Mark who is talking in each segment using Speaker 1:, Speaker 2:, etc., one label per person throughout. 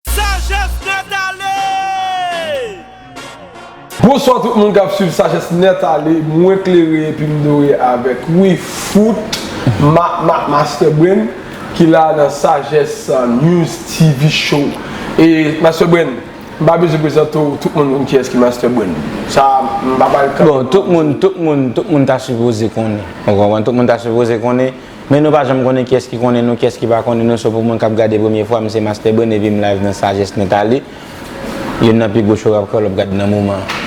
Speaker 1: Sagesse net ale! Bonswa tout moun kap swiv sajes net ale mwen klere epim dore avek wi fout ma ma master brain ki la nan sajes news TV show e master brain m pa bezwen prezante w tout moun konn kiyes ki master brain sa m pa pral kanpe Bon
Speaker 2: tout moun tout moun tout moun ta sipoze konnen ou konprann tout moun ta sipoze konnen. Men nou pa janm konnen kyès ki konnen nou kyès ki pa konnen nou so pou moun kap gade premye fwa m se Master Brain epi m live nan Sagesse Nathalie youn nan pi gwo show rap kreyòl wap gad nan moman an.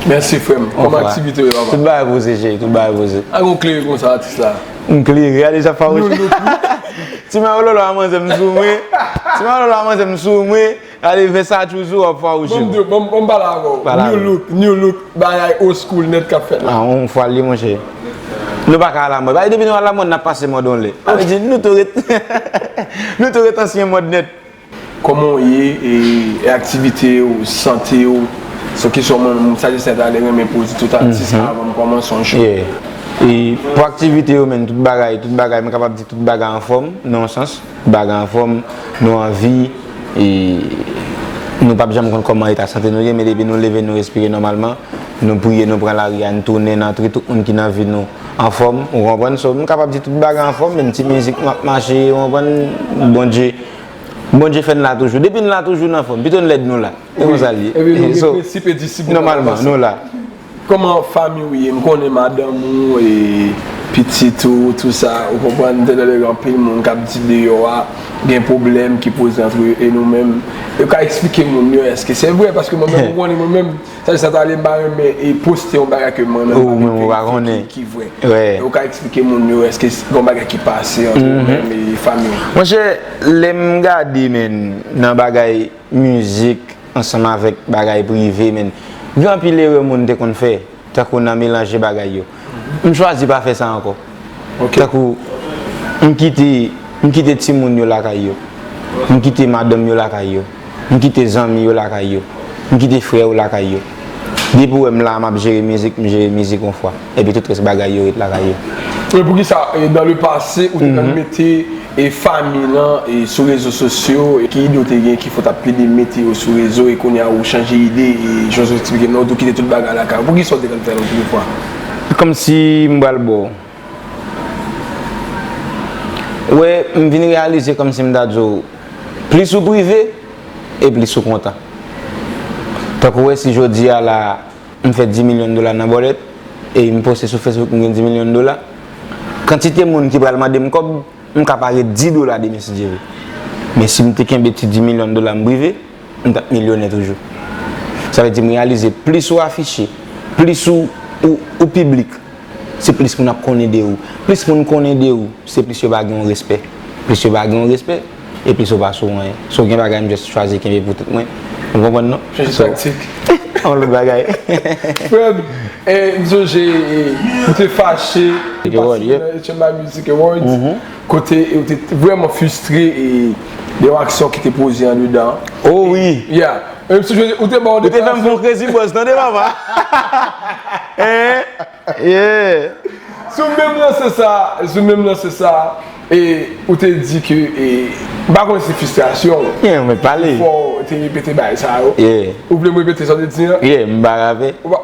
Speaker 2: Mèsi frè
Speaker 1: m, kòman aktivite yo laba? Tout bagay poze cheri, tout
Speaker 2: bagay poze. A gen w klere konsa atis
Speaker 1: la. M klere, gade jan
Speaker 2: fawouchè. Ti mayololo a manzè m sou mwen. Ti mayololo a manzè m sou mwen. Ale vèsa toujou ap fwa oujou. Banm diw banm pale
Speaker 1: avèw new look new look bagay old school nèt kap fèt la. An ou fwal li monchè.
Speaker 2: Nou pa ka alamòd. Bagay depi nou alamòd nap pase mòd on lè. Sa vle di nou tou ret nou tou ret ansyen mòd nèt. Kòman ou
Speaker 1: ye e aktivite ou, sante ou? Se yon kesyon mwen menm sa Justin ta renmen poze tout atis avan m kòmanse yon show. Yeah.
Speaker 2: Pou aktivite yo menm tout bagay tout bagay mwen kapab di tout bagay anfòm nan yon sans. Bagy anfom, nou anvi e nou pap janm konn koman eta sante nou ye men depi nou leve nou respire nomalman, nou priye nou pran lari a n tounen n antre tout moun ki nan vi nou anfom ou konprann so m kapab di tout bagy anfom menm ti mizik map mache ou konprann Bondye Bondye fè n la toujou depi n la toujou n anfom pito n lèd nou la se konsa l ye
Speaker 1: so nomalman nou la.
Speaker 2: Koman
Speaker 1: fanmi ou ye m konnen madanm ou e pitit ou tou sa ou konprann m te tande gen anpil moun kap di deyò a gen pwoblèm ki poze antre yo e nou menm e ou ka eksplike moun yo èske se vre paske mwen menm ou konnen mwen menm sa di sa ta ale m pa renmen e poste yon bagay ke mwen menm m pa gen verite ki vre e ou ka eksplike moun yo èske gon bagay ki pase antre ou menm e fanmi ou. Monchè
Speaker 2: lè m gade menn nan bagay. mizik ansanm avèk bagay prive men gen anpil erè moun te konn fè tankou nan melanje bagay yo m chwazi pa fè sa ankò tankou m kite m kite timoun yo lakay yo m kite madanm yo lakay yo m kite zanmi yo lakay yo m kite frè yo lakay yo. Depiw wèm la map jere mizik m jere mizik yon fwa epi tout rès bagay yo ret lakay yo. E poukisa dan
Speaker 1: le pase ou te konn mete e fami lan e sou rezo sosyo e ki ide ou te gen ki fè w tap plede mete yo sou rezo e kounye a ou chanje ide e jòj esplike nou ou tou kite tout bagay lakay ou poukisa ou te konn fè l anpil fwa? Kòmsi
Speaker 2: m pral baw. Wè, m vin reyalize kòmsi m ta di w, plis ou prive, e plis ou kontan. Tankou wè si jodi a la a, m fè 10 milyon dola nan bòlèt, epi m poste sou Facebook m gen 10 milyon dola, kantite moun ki pral mande m kòb, m ka pa gen 10 dola demen si Dye vle. Men si m te kenbe ti 10 milyon dola m prive, m t ap milyonè toujou. Sa vle di m reyalize plis ou afiche, plis ou piblik, se plis moun ap konnen de ou. Plis moun konnen de ou, se plis yo ba gen w respè. Plis yo ba gen w respè, e plis ou pa sou anyen. So gen bagay m just chwazi kenbe pou tèt mwen. Ou konprann non? Chanje taktik.
Speaker 1: On lòt bagay.
Speaker 2: Frè m,
Speaker 1: m sonje ou te fache, ou te patisipe nan HMI Music Awards. Kote yo te vrèman fustre e de yon aksyon ki te poze andedan. Oh wi! Ya!
Speaker 2: Menm si José,
Speaker 1: ou te ba yon deklarasyon. Ou te fè m fon krezi bòs
Speaker 2: tande papa! Hein! Yeah! Sou menm
Speaker 1: lanse sa, sou menm lanse sa, e ou te di ke e, m pa konnen si se fistrasyon ou. Yeah, mwen pale. Ki
Speaker 2: fè w te repete
Speaker 1: bagay sa yo. Yeah. Ou vle m
Speaker 2: repete sa w te
Speaker 1: di an? Yeah, m pa ka fè.
Speaker 2: Ou pa.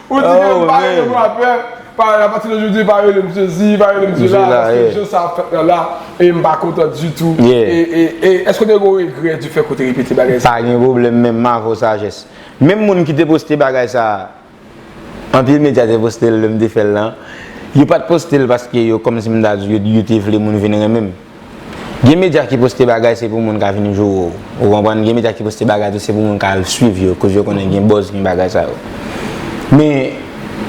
Speaker 1: Ou di ke m pa rele m rapè, pa rele apati de jodi pa rele m jezi, pa rele m di la, paske jan sa ap fèt la la, e m pa kontan ditou, e eske ou te gen yon regrè di fèt ke w te repete bagay sa? Pa gen pwoblèm menm m
Speaker 2: avè w sajès. Menm moun ki te poste bagay sa, anpil medya te poste l lè m te fè l lan, yo pa t poste l paske yo kòmsi m ta di yo te vle moun vin renmen m. Gen medya ki poste bagay se pou moun ka vin joure w. Ou konprann? Gen medya ki poste bagay tou se pou moun ka al swiv yo koz yo konnen gen buzz gen bagay sa yo. Men,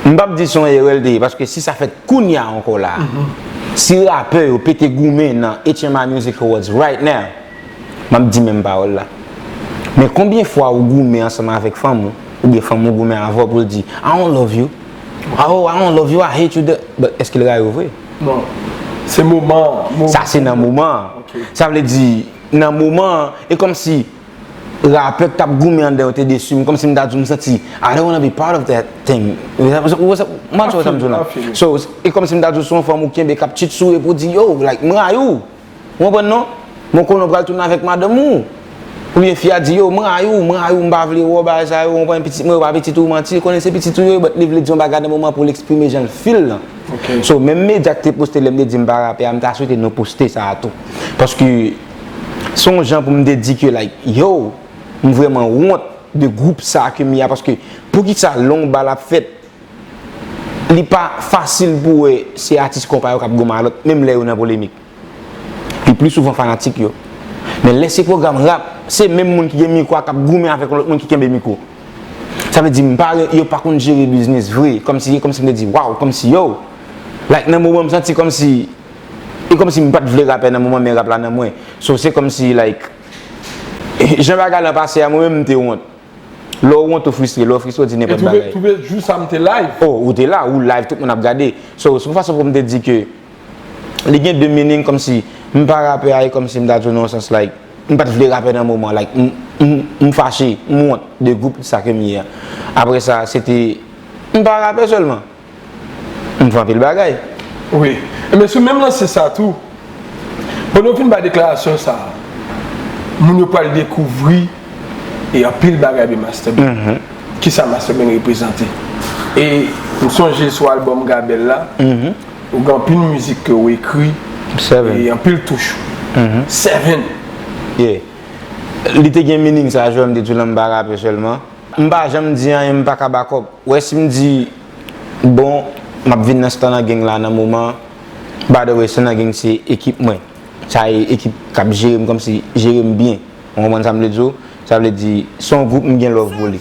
Speaker 2: m p ap di se yon erè l te ye paske si sa fèt kounye a ankò la a, si rapè yo pete goumen nan HMI Music Awards right now, m ap di menm pawòl la. Men konbyen fwa ou goumen ansanm avèk fanm ou, oubyen fanm ou goumen avè w pou l di, I don't love you, oh, I don't love you, I hate you, but èske l rayi w vre?
Speaker 1: Non. Se moman an. Sa se nan moman
Speaker 2: an. Sa vle di, nan moman an, e kòmsi rapè k t ap goumen anndan yo te desi m, kòmsi m ta di w m santi I don't wanna be part of that thing. Ou wè sa m wè, m pa tchou wè sa m di w la. So, e kòmsi m ta di w se yon fanm ou kenbe k ap chit sou e pou w di yo, like, m rayi w. Ou konprann non? Men w konnen w pral tounen avèk madanm ou. Oubyen fi a di yo, m rayi w, m rayi w, m pa vle wè w, bagay sa yo, ou konprann, pitit mwen yo pa pitit ou, manti, li konnen se pitit ou yo ye but li vle di yon bagay nan moman pou l eksprime jan l feel lan. So, menm medya ki te poste lè m te di m pa rapè a, m ta swete nou poste sa a tou. Paske, se yon jan pou m te di ke like, yow, m vrèman wont de gwoup sa a ke m ye a paske poukisa long bal ap fèt li pa fasil pou wè se atis konpa yo k ap gou malòt menm lè yo nan polemik. Li pli souvan fanatik yo. Men lè se pwogram rap, se menm moun ki gen mikwo a k ap goumen avèk yon lòt moun ki kenbe mikwo. Sa vle di m pa wè yo pa konn jere biznis vre. Kòm si, kòm si m te di waw, kòm si yow. Like nan moman m santi kòm si, e kòm si m pa t vle rapè nan moman men rap la nan mwen. So se kòm si like jan bagay lan pase a mwen menm m te wont. Lè w wont ou fristre, lè w fristre w di nenpòt bagay. E twouve jou sa m te
Speaker 1: live. O, ou te la, ou
Speaker 2: live tout moun ap gade. So, se yon fason pou m te di ke li gen 2 meaning kòmsi m pa rapè a e kòmsi m ta di w nan yon sans like m pa t vle rapè nan moman an like m m fache, m wont de gwoup sa ke m ye a. Aprè sa, se te m pa rapè sèlman. M fè anpil bagay. Wi.
Speaker 1: Enben sou menm lanse sa tou, pandan w fin bay deklarasyon sa, moun yo pral dekouvri e anpil bagay de Master Ben. Kisa Master Ben reprezante. E m sonje sou album Gabel la, ou gen anpil mizik ke w ekri e anpil touch ou. Seven.
Speaker 2: Yeah. Li te gen meaning sa, jwèm de tou lan m pa rape sèlman. M pa janm di anyen m paka bakòp. Ou wè si m di bon m ap vin nan stan nan geng la nan moman by the way stan nan geng se ekip mwen sa e ekip k ap jere m kòmsi jere m byen ou konprann sa m vle di w sa vle di se yon gwoup m gen love pou li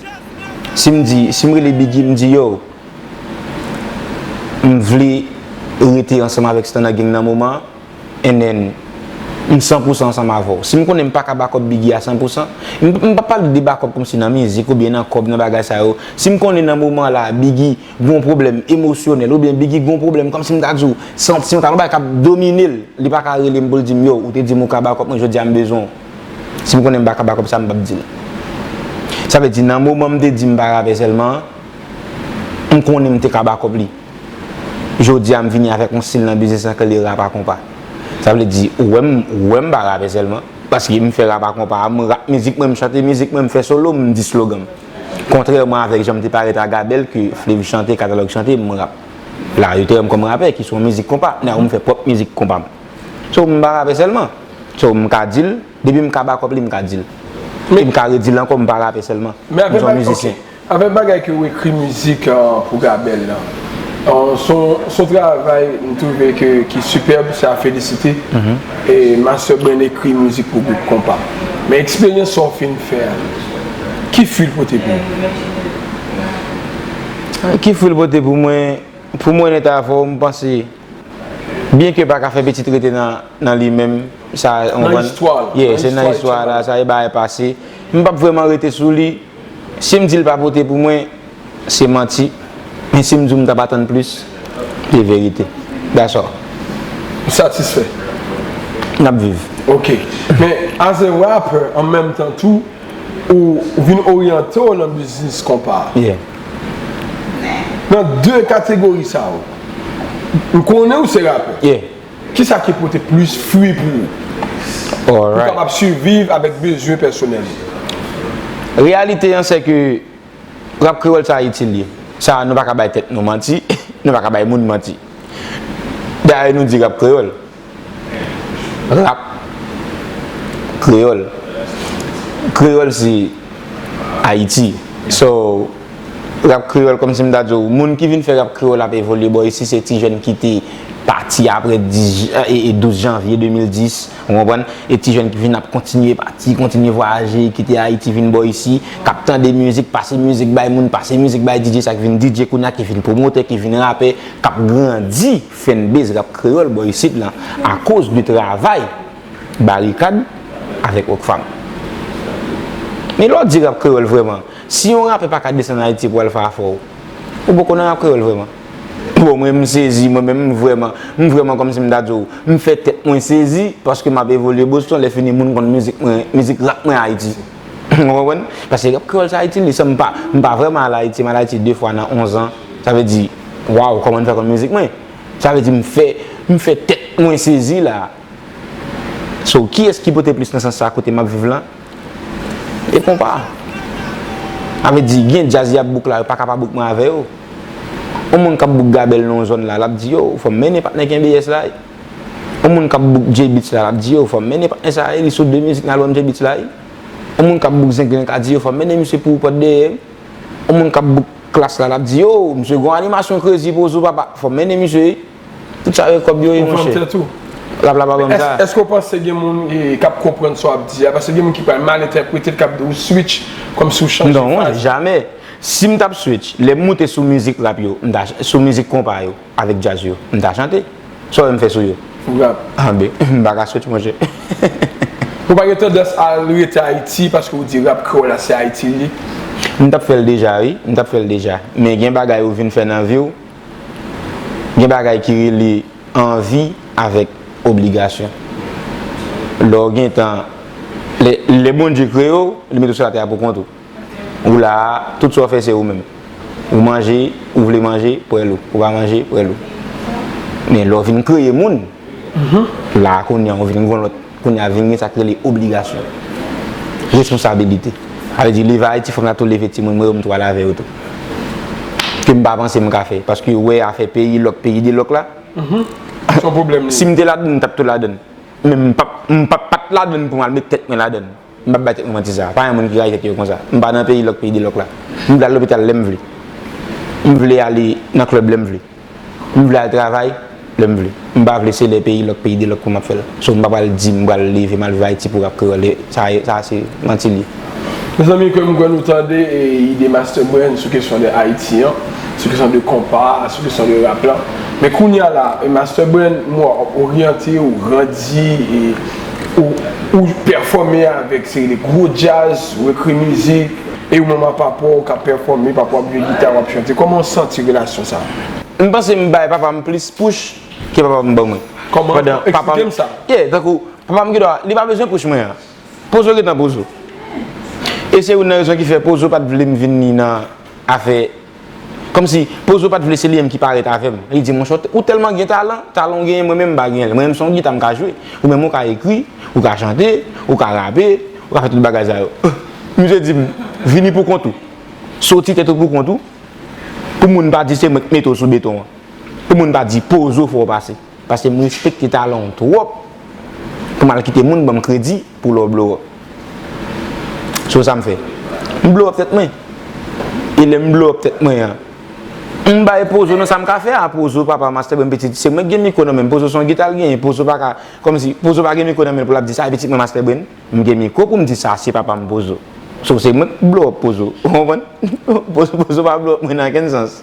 Speaker 2: si m di si m rele biggy m di yow m vle rete ansanm avèk stan nan geng nan moman. And then, m san pou san ansanm avè w. Si m konnen m pa ka back up Biggie a san pou san, m m pa pale de back up kòmsi nan mizik oubyen nan kòb, nan bagay sa yo. Si m konnen nan moman la a Biggie gen yon pwoblèm emosyonèl oubyen Biggie gen yon pwoblèm kòmsi m ta di w santimantal, yon bagay k ap domine l, li pa ka rele m pou l di m yow ou te di m ou ka back up mwen jodi a m bezwen w. Si m konnen m pa ka back up sa m p ap di l. Sa vle di nan moman m te di m pa rapè sèlman an, m konnen m te ka back up li. Jodi a m vini avèk yon stil nan biznis lan ke li rap a konpa. Sa vle di, ou wè m, ou wè m pa rape sèlman. Paske m fè rap a konpa a, m rap mizik mwen, m chante mizik mwen, m fè solo, m di slogan m. Kontrèman avèk jan m te parèt a Gabèl ke Flev chante, Katalòg chante, m rap. La yo te wè m kòm rapè ki sou yon mizik konpa. Now m fè pwòp mizik konpa m. So m pa rape sèlman. So m ka di l, depi m ka back up li m ka di l. E m ka redi l ankò m pa rape sèlman. M se yon mizisyen.
Speaker 1: Avèk bagay ke ou ekri mizik pou Gabèl lan, son travay m twouve ke ki sipèb, se a felisite. E Master Brain ekri mizik pou gwoup konpa. Men eksperyans sa ou fin fè a, ki fwi l pote pou ou? Ki fwi l pote pou
Speaker 2: mwen? Pou m onèt avè w, m panse, byen ke pa ka fè pitit rete nan li menm, sa, ou konprann? Nan istwa la.
Speaker 1: Yeah, se nan istwa
Speaker 2: la, sa e bagay pase. M pap vrèman rete sou li. Si m di l pa pote pou mwen, se manti, men si m di w m t ap atann plis, se verite. That's all. Ou
Speaker 1: satisfè?
Speaker 2: N ap viv. Ok. Men,
Speaker 1: as a rapper, an menm tan tou, ou vin oryante w nan biznis konpa a. Yeah. Nan de kategori sa yo, m konnen ou se rapè. Yeah. Kisa
Speaker 2: ki pote
Speaker 1: plis fwi pou ou? Pou kapab siviv avèk bezwen pèsonèl ou?
Speaker 2: Reyalite an se ke Rap Kreyòl sa itil ye. Sa nou pa ka bay tèt nou manti, nou pa ka bay moun manti. Dayè nou di Rap Kreyòl. Rap Kreyòl. Kreyòl se Ayiti. So. Rap kreyòl kòmsi m ta di w moun ki vin fè rap kreyòl ap evolye bò isi se ti jèn ki te pati apre 12 janvye 2010 ou konprann e ti jèn ki vin ap kontinye pati kontinye vwayaje ki te ayiti vin bò isi k ap tande mizik pase mizik bay moun pase mizik bay didje sa k vin didje kounya ki vin pwomotè ki vin rapè k ap grandi fènbez rap kreyòl bò isit lan akoz de travay Barikad avèk Rockfam men lè w di rap kreyòl vrèman. Si yon rapè paka desann ayiti pou al fè afè w ou poko nan rap kreyòl vrèman? Bon mwen m sezi mwen menm m vrèman m vrèman kòmsi m ta di w m fè tèt mwen sezi paske m ap evolye Boston lè fini moun konn mizik mwen mizik rap mwen ayiti ou konprann paske rap kreyòl sa ayiti m li san m pa m pa vrèman al ayiti m al ayiti 2 fwa nan 11 an sa vle di waw kòman n fè konn mizik mwen sa vle di m fè m fè tèt mwen sezi la a so kiyès ki pote plis nan sans sa kote m ap viv lan. E konpa. Sa vle di gen djaz yap bouk la yo paka pa bouk mwen avè yo. On moun kap bouk Gabel nan yon zòn la lap di yo ou fòm mennen patnè knbs la wi. On moun kap bouk J-beatz la lap di yo ou fòm mennen patnè sa wi li sou 2 mizik nan album J-beatz la wi. On moun kap bouk Zenglen ka di yo fòm mennen misye pou pòt dèyè wi. On moun kap bouk Klass la lap di yo ou misye gon animasyon krezi pozo papa fòm mennen misye wi. Tout sa yo kob yo ye monche. Ou fanm tèt ou. Rap la pa banm sa.
Speaker 1: Eske ou panse gen moun kap konprann sa wap di a? Paske gen moun ki pral mal entèpretel kap di ou switch komsi ou chanje faz. Non, jamè.
Speaker 2: Sim tap switch, lem moute sou mizik rap yo, m ta sou mizik konpa yo avek djaz yo, m ta chante. Sa w wèm fè sou yo? Ou rap. Ah ben, m paka switch monche. Ou
Speaker 1: pa gen tandans al rete Ayiti paske ou di rap kreyol la se Ayiti li ye? M tap fèl
Speaker 2: deja wi, m tap fèl deja. Men gen bagay ou vin fè nan viw. Gen bagay ki rele anvi avèk obligasyon. Lè w gen tan, lè Bondye kreye w, li mete w sou latè a pou kont ou. Ou la a, tout sa w fè se ou menm. Ou manje, ou vle manje, prèl ou. Ou pa manje, prèl ou. Men lè w vin kreye moun. La a kounye an, ou vin gen yon lòt, kounye a vin gen sa k rele obligasyon, responsabilite. Sa vle di leve Ayiti fò m ta tou leve timoun mwen yo, m tou al avè yo tou. Ke m pa panse m ka fè. Paske yo wè afè peyi lòk, peyi de lòk la,
Speaker 1: si m te ladann, m t ap tou
Speaker 2: ladann. Men m p ap, m p ap pa t ladann pou m al met tèt mwen ladann. M pap bay tèt mwen manti sa. Pa gen moun ki rayi tèt yo konsa. M pa nan peyi lòk peyi delòk la. M vle al lopital lè m vle. M vle ale nan klèb lè m vle. M vle al travay lè m vle. M pa vle se lè peyi lòk peyi delòk pou m ap fè l. So m pa pral di m pral leve m al viv Ayiti pou rap kreyòl e sa e sa se manti l ye. Mezanmi
Speaker 1: ke m kwè nou tande ide Master Brain sou kesyon de Ayiti an, sou kesyon de konpa, sou kesyon de rap la. Men kounya la, Master Brain m wè w ap oryante, ou grandi e. ou pèfòme avèk seri de gwo djaz, ou ekri mizik, e ou menm a papa w ka pèfòme, papa w ap jwe gita, w ap chante, kòman w santi relasyon sa a? M panse m bay
Speaker 2: papa m plis push ke papa m ban mwen. Kòman? Eksplike
Speaker 1: m sa. Yeah, tankou, papa m
Speaker 2: gendwa, li pa bezwen push mwen an. Pozo gen tan pozo. E se youn nan rezon ki fè pozo pa t vle m vini nan afè. Kòmsi, Pozo pa t vle se li menm ki parèt avè m. Li di, Monchè, ou tèlman gen talan, talan ou genyen mwen menm m pa genyen l. Mwen menm se yon gita m ka jwe. Ou menm ou ka ekri, ou ka chante, ou ka rape, ou ka fè tout bagay sa yo. Misye di m, Vini pou kont ou. Soti tèt ou pou kont ou, pou moun pa di se mwen k mete w sou beton an. Pou moun pa di Pozo fè w pase. Paske m respekte talan w twòp pou m al kite moun ban m kredi pou lè w blow up. So sa m fè? M blow up tèt mwen. E lè m blow up tèt mwen an, m bay Pozo nan sa m ka fè a. Pozo, papa, mastè, bon pitit, se mwen ki gen mikwo nan men m. Pozo se yon gita l genyen. Pozo pa ka, kòm si, Pozo pa gen mikwo nan men l pou l ap di sa e pitit mwen Mastè Brain. M gen mikwo pou m di sa, se papa m Pozo. So se mwen k blow up Pozo. Ou konprann? Pozo pa blow up mwen nan okenn sans.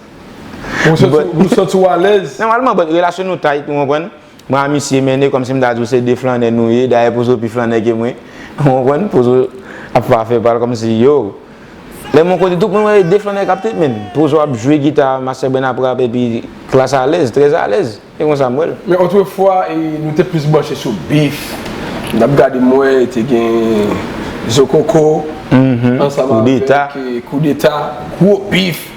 Speaker 1: Ou santi w alèz? Nòmalman, bòt relasyon nou
Speaker 2: tayt, ou konprann? Mwen a misye mennen kòm si m ta di w se 2 flannè nou ye, dayè Pozo pi flannè ke mwen. Ou konprann? Pozo ap fè afè pa l kòm si yo. Lè m yon kote tout, mwen wè e 2 flannè k ap tretmen. Pozo ap jwe gita, Master Bren ap rape epi klas alèz, trèzalèz. E konsa m wè l. Men otrefwa
Speaker 1: nou te plis branche sou bif, n ap gade mwen te gen zokoko ansanm avèk koudeta, gwo bif.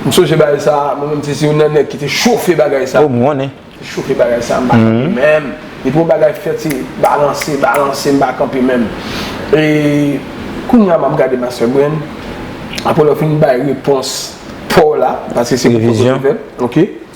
Speaker 1: M sonje bagay sa, mwen menm se youn nan nèg ki te chofe bagay sa. Te chofe
Speaker 2: bagay sa, m pa
Speaker 1: kanpe menm. Depi yon bagay fèt se balanse, balanse, m pa kanpe menm. E kounye a m ap gade Master Brain, aprè lè w fin bay repons pa w la, paske se repons w te fè,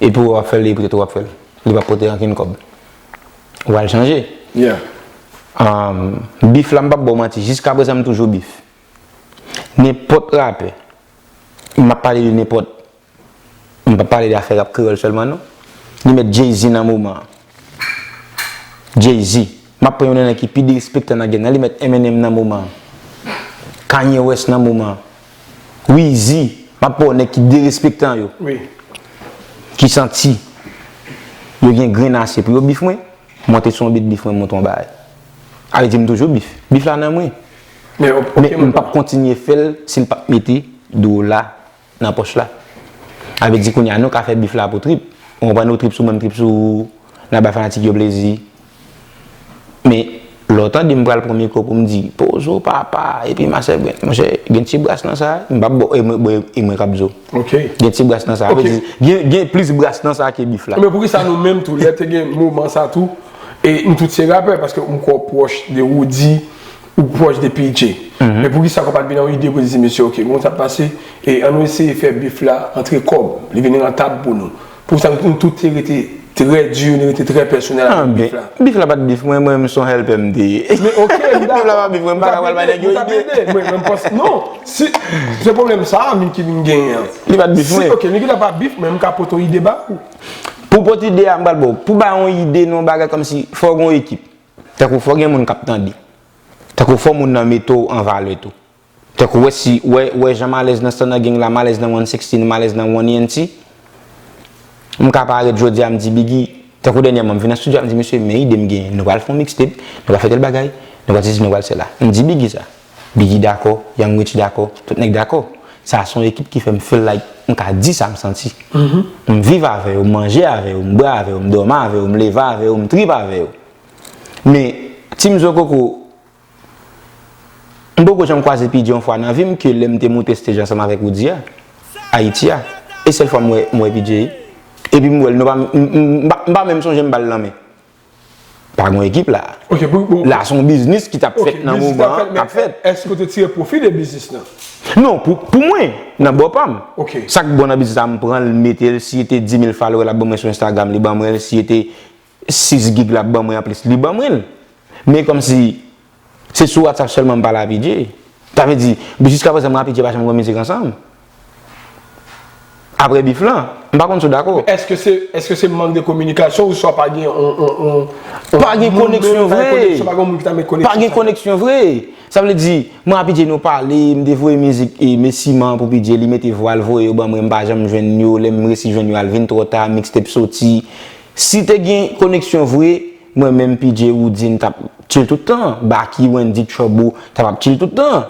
Speaker 2: Epi ou ap fè l epi tou w ap fè l. Li p ap pote ankenn kòb. Ou pral chanje.
Speaker 1: Yeah.
Speaker 2: Beef la m p ap ba w manti. Jiskaprezan m toujou beef. Nenpòt rapè. M ap pale de nenpòt. M p ap pale de afè rap kreyòl sèlman non. Li mèt Jay-Z nan moman an. Jay-Z, Map pran yon nan nèg ki pi derespektan nan game nan li mèt Eminem nan moman an. Kanye West nan moman an. Weezy, Map pranw nèg ki derespektan yo.
Speaker 1: Ki
Speaker 2: santi yo gen grenn ase pou yo beef mwen, monte sou yon beat beef mwen monte yon bagay. A vle di mtoujou beef. Beef la nan mwen. Men mpap kontinye fèl sil pap mete dola nan pòch la. Sa vle di kounye a nou ka fè bif la pou trip. Ou konprann ou trip sou mwen m trip sou ou, n ap bay fanatik yo plezi. Men, lè ou tande m pral pran mikwo pou m di, Pozo papa, epi Masè Brens, monchè, gen ti bras nan sa. M pa p ba w, bon, e mwen k ap di w. Ok. Gen ti bras
Speaker 1: nan sa. Ok. Sa
Speaker 2: vle di, gen plis bras nan sa ke bif la. Men poukisa nou menm tou, lè
Speaker 1: te gen moman sa tou, e nou tout se rapè, paske m kwè ou pwòch de Roody. Ou pwòch de PJ. Men poukisa kòb pat vin an ide pou di mesye ok bon sa pase e an nou eseye fè bif la antre kòb li vin rantab pou nou. Poukisa nou tout te rete trè di, nou rete trè pèsonèl avèk bif la. Bif la pat bif mwen, mwen menm
Speaker 2: son hèlpè m te ye. Men ok m dakò.
Speaker 1: Bif la pa bif mwen, m paka pral bay nèg yo ide. M ta plede, m ta plede. Mwen m panse non, si se pwoblèm sa a Micky vin genyen an. Li pat bif mwen. Si ok
Speaker 2: Micky la pa bif mwen, m
Speaker 1: ka pot yon ide ba ou. Pou pot
Speaker 2: ide a m pral ba w. Pou bay yon ide nan yon bagay kòmsi fò w gen yon ekip. Tankou fò gen moun kap tande. Tankou fò moun nan mete w an valè tou. Tankou wè si, wè, wè jan m alèz nan Stunner Gang la, m alèz nan One Sixteen, m alèz nan One ENT. M ka parèt jodi a m di Biggy, tankou dènyèman m vin nan studio a m di mesye men ide m genyen. Nou pral fè yon mixtape, nou pral fè tèl bagay, nou pral sesi nou pral sela. M di Biggy sa. Biggy dakò, Young Rich dakò, tout nèg dakò. Sa a se yon ekip ki fè m feel like m ka di sa m santi. M viv avè yo, m manje avè yo, m bwè avè yo, m dòmi avè yo, m leve avè yo, m trip avè yo. Men, Team Zokoko, m poko janm kwaze pi di yon fwa nan vi m ke lè m te moute stage ansanm avèk Roody a, Ayiti a. E sèl fwa m wè, m wè PJay. Epi m wè l, nou pa menm, m pa menm sonje m ba l lanmen. Pa gon ekip la. Ok, pou pou. La son
Speaker 1: biznis
Speaker 2: ki tap fèt nan moman an. Ok, biznis la tap fèt. Eske ou te tire pwofi
Speaker 1: de biznis la? Non,
Speaker 2: pou mwen, nan bò pa m. Ok. Sa k bon nan biznis
Speaker 1: la, m
Speaker 2: pran l, m mete l, si e te 10.000 falowè l ap ban mwen sou Instagram, li ban mwen l, si e te 6 gig l ap ban mwen anplis, li ban mwen l. Men kòmsi. Se sou WhatsApp sèlman m pale a Pidje. Sa vle di, jiska prezan mwen a Pidje pa janm gen mizik ansanm. Aprè bif lan. M pa konn si w dakò. Eske se, eske se mank
Speaker 1: de kominikasyon ou swa pa gen yon, yon, yon, yon.
Speaker 2: Pa gen koneksyon vre. Pa gen yon moun ki ta met koneksyon. Pa gen koneksyon vre. Sa vle di, mwen a Pidje nou pale, m te voye mizik e Mesi man pou Pidje, li mete vwa l voye yo ban mwen, m pa janm jwenn yo, lè m resi jwenn yo a l vin twò ta, mixtape soti. Si te gen koneksyon vre. Mwen menm PJ Roodine tap chill tout tan, Baky, Wendy, Trouble tap ap chill tout tan.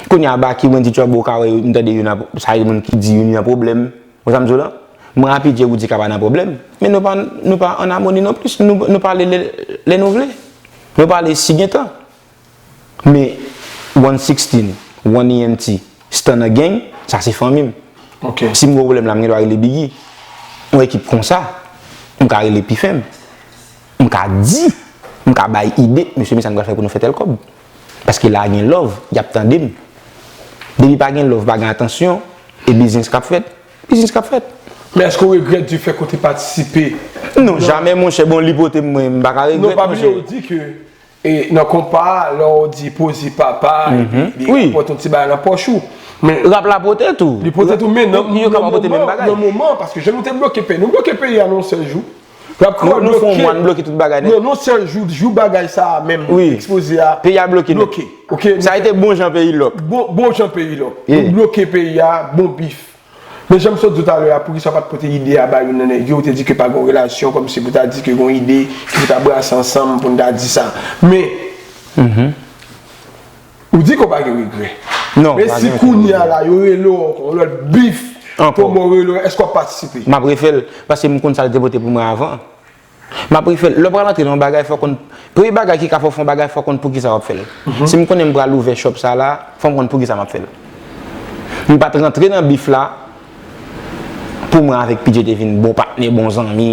Speaker 2: Kounye a Baky, Wendy, Trouble ou ka wè yo m tande youn ap sa yo menm ki di youn nan pwoblèm. Ou wè sa m di w la? Mwen a PJ Roody ka pa nan pwoblèm, men nou pa nou pa an amoni non plis. Nou pale lè nou vle. Nou pale si gen tan. Me one sixteen, one ENT, Stunner Gang, sa se fanmi m. Si m gen yon pwoblèm la, m gen dwa rele Biggy. Yon ekip konsa, m ka rele pi fèm. M ka di, m ka bay ide, mesye men sa nou pral fè pou nou fè tèl kòb. Paske la a gen love, y ap tande m. Depi pa gen love, pa gen atansyon, e biznis k ap fèt, biznis k ap fèt. Men èske ou regrèt
Speaker 1: di fèk ou te patisipe? Non, jamè
Speaker 2: monchè, bon li pote m mwen, m pa ka regrèt monchè. Non, pa bliye ou di ke
Speaker 1: E nan konpa a lè w di pozi papa epi li rapòte yon ti bagay nan pòch ou. Rap la
Speaker 2: pote tou. Li pote tou men
Speaker 1: nan moman paske jan nou te bloke peyi. Nou bloke peyi a nan yon sèl jou. Rap kreyòl bloke. Nou fè yon
Speaker 2: mwa nou bloke tout bagay nèt. Nan yon sèl jou, jou
Speaker 1: bagay sa a menm ekspoze a. Peyi a bloke nèt.
Speaker 2: Sa a te
Speaker 1: bon jan
Speaker 2: peyi lòk. Bon jan peyi lòk.
Speaker 1: Nou bloke peyi a bon bif. Men janm sot diw talè a poukisa ou pat pote ide a ba youn nan nèg yo ou te di ke pa gon relasyon kòmsi pou ta di ke gon ide ke pou ta brase ansanm poun ta di sa men ou di ke ou pa gen regrè men si
Speaker 2: kounya
Speaker 1: la yo rele ou ankò yon lòt bif pou bon rele ou eske wap patisipe? Map refèl paske
Speaker 2: m konn sal te pote pou mwen avan. Map refèl, lè w pral antre nan yon bagay fò w konn, premye bagay ki ka fè w fè yon bagay fò w konn poukisa wap fèl. Si m konnen m pral ouvè shop sa la, fò m konn poukisa map fèl. M pat rantre nan bif la pou mwen avèk PJ te vin bon patnè, bon zanmi.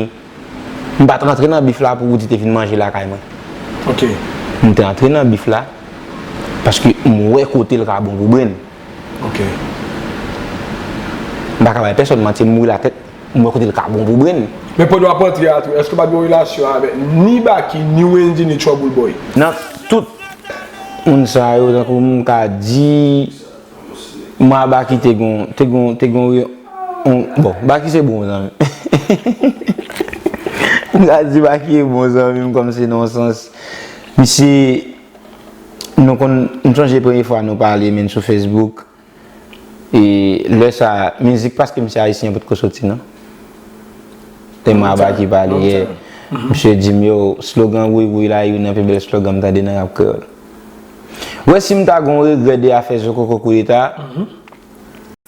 Speaker 2: M pat rantre nan bif la pou Roody te vin manje lakay mwen.
Speaker 1: M te antre
Speaker 2: nan bif la paske m wè kote l ka bon pou Bren. M paka bay pèsòn manti, m mouri la tèt. M wè kote l ka bon pou Brenn. Men Podo ap antre a
Speaker 1: tou. Eske w pa gen yon relasyon avèk ni Baky, ni Wendyy, ni Trouble Boy? Nan tout
Speaker 2: moun sa yo tankou m ka di mwen a Baky te gen yon, te gen yon, te gen yon, bon Baky se bon zanmi. M ka di Baky e bon zanmi m kòm se nan yon sans. Misye nou konn, m sonje premye fwa nou pale menn sou Facebook. E lè sa mizik paske misye ayisyen potko soti nan. E ma ba ki pale yè. Misye di m yo slogan Wouyy Wouyy la youn nan pi bèl slogan m tande nan rap kreyòl. Ou wè si m ta gen yon regrè de afè zokoko koudeta a,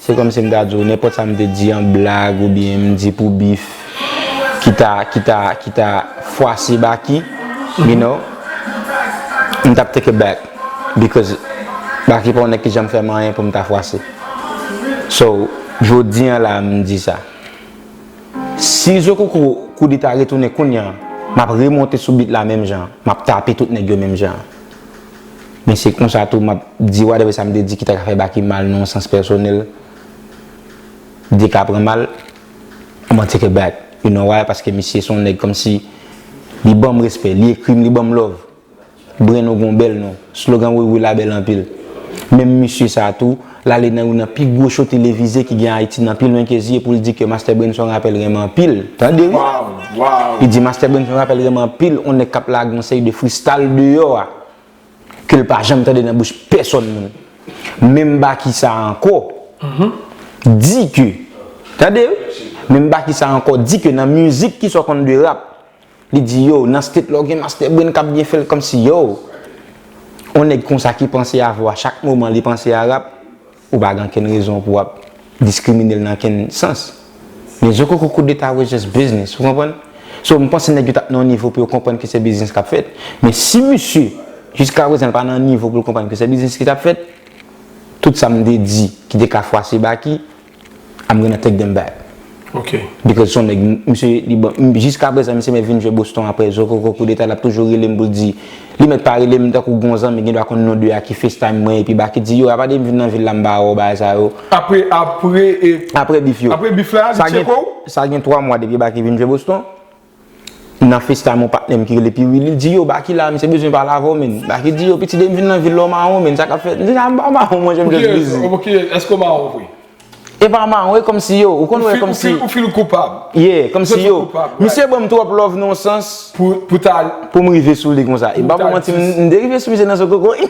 Speaker 2: se kòmsi m ta di w nenpòt sa m te di an blag oubyen m di pou bif ki ta ki ta ki ta fwase Baky, you know, m t ap take it back. because Baky pa yon nèg ki janm fèm anyen poum ta fwase so jodi an la a m di sa si zokoko kou li ta retounen kounye an map remonte sou beat la menm jan an map tape tout nèg yo menm jan an men se konsa tou map di whatever sa m te di ki ta ka fè Baky mal nan yon sans pèsonèl li ka pran mal m an take it back you know why paske misye se yon nèg kòmsi li banm respè li ekri m li banm love. Bren ou gon bèl non. Slogan Wi Wi la bèl anpil. Menm misye sa a tou, l ale nan youn nan pi gwo show televize ki gen Ayiti nan pi lwen ke zye pou l di ke Mastè Bren son rapè l renmen anpil. Tande wi!
Speaker 1: Li di Mastè Bren
Speaker 2: son rapè l renmen anpil, on nèg k ap lage yon seri de fristal deyò a ke l pa janm tande nan bouch pèsòn moun. Menm Baky sa a ankò di ke, tande wi! Menm Baky sa a ankò di ke nan mizik ki sò konn de rap, Li di yo, nan state la w gen master brain kap byen fèl kòmsi yow on nèg konsa ki panse avèw a chak moman li panse a rap ou pa gen ankenn rezon pou wap diskriminel nan kenn sans men zokoko koudeta was just business ou konprann so m panse nèg yo tap nan yon nivo pou yo konprann ke se business kap fèt men si misye jiska prezan li pa nan yon nivo poul konprann ke se business ki tap fèt tout sa m te di ki te ka fwase Baky. I'm gonna take them back Ok. Because
Speaker 1: son nèg
Speaker 2: misye li ban jiska prezan misye mèt vin jwe Boston aprè zokoko koudeta lap toujou relem poul di li mèt pa relem tankou gon zanmi gendwa konn non 2 a ki facetime mwen epi Baky di yo apade m vin nan vil la m ba wè w bagay sa yo Apre apre e Apre bif yo. Apre bif la li Sa gen tcheke w?
Speaker 1: sa gen 3
Speaker 2: mwa depi Baky vin jwe Boston Nan facetime yon patnèm ki rele Pi Wi li di yo Baky la misye bezwen pale avèw menn Baky di yo pitit depi m vin nan vil la w mawon menn sa kap fèt m di sa m pa mawon mwen jèm jès bizi. Pou kiyès pou kiyès èske w mawon
Speaker 1: vre? E pa mawon
Speaker 2: e kòmsi yo ou konn wè kòmsi. Ou feel koupab.
Speaker 1: Yeah kòmsi yo
Speaker 2: misye banm twòp love nan yon sans pou ta
Speaker 1: pou m rive
Speaker 2: sou li konsa e m pa pou manti m te rive sou misye nan zokoko wi.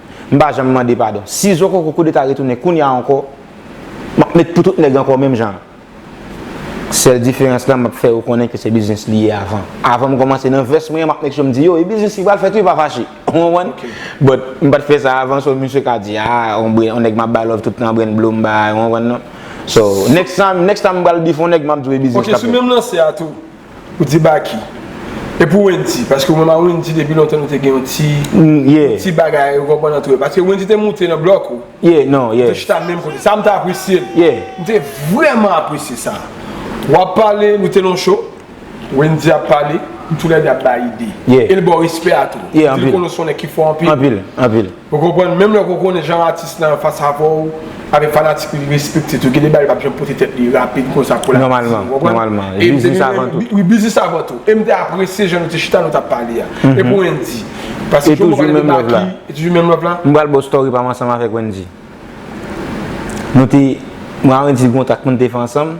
Speaker 2: M pa janm mande padon. Si zokoko koudeta retounen kounya ankò, m ap met pou tout nèg ankò menm jan an. Sèl diferans la m ap fè yo konnen ke se biznis li ye avan. Avan m kòmanse nan vès mwen an m ap make sure m di yo e biznis li pral fèt wi pa fache. Ou konprann? But m pa t fè sa avan so misye ka di a on bren on nèg m ap bay love tout tan bren blo m bay ou konprann non. So next time next time m pral beef on nèg m ap di w e biznis l ap fèt. Ok sou menm lanse a tou.
Speaker 1: Ou di Baky. E pou Wendy? Paske ou menm a Wendy depi lontan nou te gen yon ti yon ti bagay ou konprann antrew. Paske Wendy te moute nan blòk ou. Yeah non yeah. Nou te
Speaker 2: chita menm kote. Sa m te
Speaker 1: apresye l. Yeah. M te
Speaker 2: vrèman
Speaker 1: apresye sa. W ap pale, nou te nan yon show, Wendy ap pale, nou tou lè de ap bay ide. Yeah. E l ba w respè
Speaker 2: a tou.
Speaker 1: Yeah anpil. Ou di l konnen w se yon nèg ki
Speaker 2: fò anpil.
Speaker 1: Anpil, anpil. Ou
Speaker 2: konprann menm lè ke w
Speaker 1: konnen jan atis lan anfas avè w avèk fanatik li li respekte tou gen de bagay li pap janm pote tèt li rapid konsa pou la atis lan ou konprann
Speaker 2: e depi
Speaker 1: menm
Speaker 2: wi biznis avan tou e
Speaker 1: m te apresye jan nou te chita nou tap pale a e pou Wendy paske Jomo pale de Baky
Speaker 2: e toujou menm love la. M
Speaker 1: pral ba w story pa m ansanm
Speaker 2: avèk Wendy nou te mwen a Wendy gen yon track nou te fè ansanm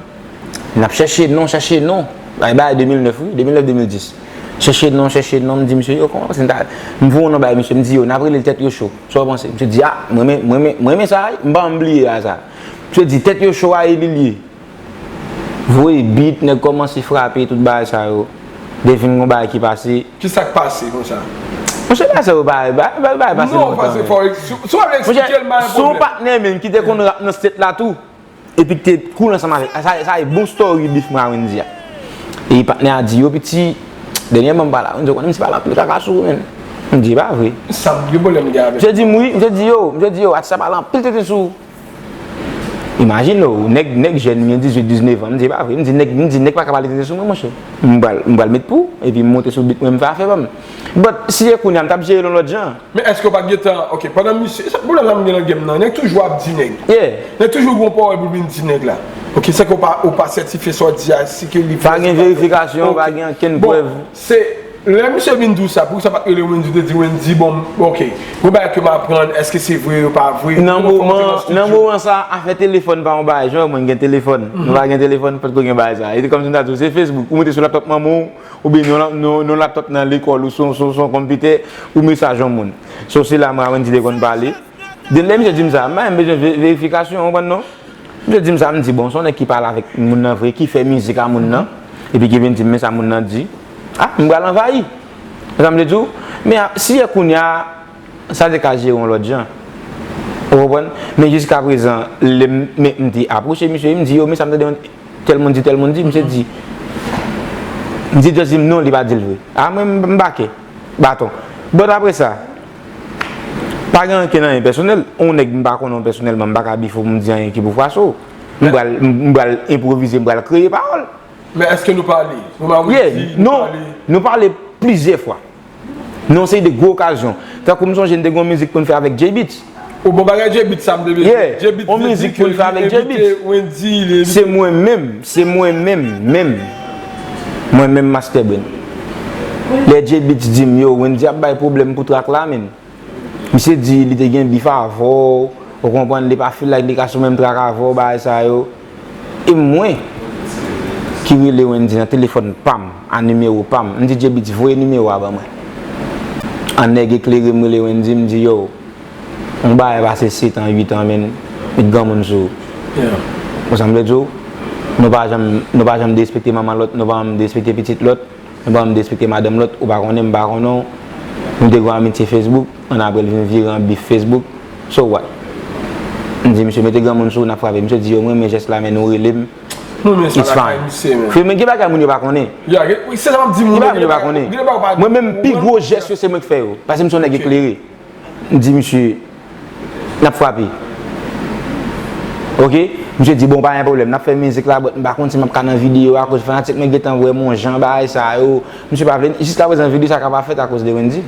Speaker 2: Nap chèche non, chèche non. Bay bay 2009 wi, 2009, 2010. Chèche non, chèche non, m di misye yo kòman se m ta. M voye yon non bay misye, m di yo nap rele l tèt yo cho. Sa ou panse? Misye di a, m renmen, m renmen, m renmen sa a wi, m pa janm bliye a sa. Misye di tèt yo cho a e li l ye. Voye beat, nèg kòmanse frape tout bagay sa yo. Gen vin gen yon bagay ki pase. Ki sa k pase konsa?
Speaker 1: Monchè bagay sa yo
Speaker 2: pa, bagay pase lontan. Non, pase fò,
Speaker 1: si w ap eksplike l m pa gen pwoblèm. Monchè, se yon patnè menm ki
Speaker 2: te konn rap nan state la tou. Epi te koul ansanm avèk. Sa e bon story beef mwen a Wendy a. E patnè a di yo piti, dènyèman m pa la. Wendy ou konnen m si pa la m pile kaka sou ou menn. M di e pa vre. Sa m gen pwoblèm gen avèk.
Speaker 1: Misye di m wi, misye di yo,
Speaker 2: misye di yo atis la pale anpil tenten sou ou. Imajine w, nèg jèn m gen 18, 19 an. M di e pa vre. M di nèg, m di nèg paka pale tenten sou mwen monchè. M pral, m pral met pou, epi m monte sou beat mwen m fè afè pa m. But si se kounya m t ap jere l yon lòt jan. Men eske ou pat gentan
Speaker 1: ok pandan misye se pwoblem sa m gen nan game nan nèg toujou ap di nèg nèg toujou gon
Speaker 2: pawòl pou vin
Speaker 1: di nèg la ok sèke ou pa sètifye sa
Speaker 2: w di
Speaker 1: a si
Speaker 2: ke li vrè
Speaker 1: si pa
Speaker 2: vrè
Speaker 1: ok
Speaker 2: bon se
Speaker 1: lè misye vin di w sa poukisa w pat rele wendyy ou te di wendyy bon ok gon bagay ke m aprann eske se vre yo pa vre nan
Speaker 2: moman sa afè telefòn pa yon bagay jan w wè mwen gen telefòn nou pa gen telefòn potko gen bagay sa e te kòm si m ta di w se facebook ou mete sou laptop manman w. Oubyen non laptop nan lekòl ou son konpitè ou mesaj yon moun. So se la Mawendy te konn pale. Den lè misye di m sa, m pa janm bezwen verifikasyon ou konprann non. Misye di m sa m di bon son nèg ki pale avèk moun nan vre ki fè mizik a moun nan epi ki vin di m men sa moun nan di. Ah m pral anvayi. Konprann sa m vle di w? Men si yè kounya Sa te ka jere yon lòt jan. Ou konprann? Men jiska prezan, lè m, men m te apwoche misye, m di yo, men sa m tande yon tèl moun di, tèl moun di, misye di. Misye just di m non, li pa di l vre. A mwen m bake. Baton. But apre sa, pa gen ankenn anyen pèsonèl. Yon nèg m pa konnen w pèsonèlman, m pa ka bifo m di anyen ki pou fwache w. M pral, m pral enprovize, m pral kreye pawòl. Men èske nou
Speaker 1: pale? Ou pa wè di nou
Speaker 2: pale? Yeah, nou, nou pale plizyè fwa. Nan yon seri de gwo okazyon. Tankou m sonje n te gen yon mizik pou n fè avèk Jay Beatz. O bon bagay Jay
Speaker 1: Beatz sa m te bezwen. Yeah, Jay Beatz te di ke
Speaker 2: li envite Wendy, li envite. Se mwen menm, se mwen menm, menm. Mwen menm Master Brain. Lè Jay Beatz di m, yo, Wendy ap bay pwoblèm pou track la, menn. Misye di li te gen bif avè w, ou konprann li pa feel like li ka sou menm track avè w bagay sa yo. E mwen ki rele Wendyy nan telefòn pa m a nimewo pa m, m di J-Beatz voye nimewo a ban mwen. An nèg eklere m rele Wendyy m di yo, yon bagay pase setan uitan menn, met granmoun sou ou. Konsa m vle di w, nou pa janm nou pa janm derespekte manman lòt, nou pa janm derespekte pitit lòt. Mwen pa despekte madanm lòt, ou pa konnen m pa konnen w. Nou te gon amitye Facebook, annapre l vin vire an bif Facebook. So what? M di misye, mete granmoun sou ou n ap frape. Misye di yo, m renmen jès la men nou rele m, it's fine. Freo men gen bagay moun yo pa konnen. Gen
Speaker 1: bagay moun yo pa konnen. Mwen
Speaker 2: menm pi gwo jès yo se mwen k fè yo. Pase m se yon nèg eklere. M di misye, N ap frape. Ok. Misye di, bon pa gen pwoblèm, n ap fè mizik la, bòt m pa konn si m ap ka nan videyo a akoz fanatik mwen gentan wè m yon jan bagay sa yo. Misye pa vle, jiskaprezan videyo sa ka pa fèt akoz de Wendy.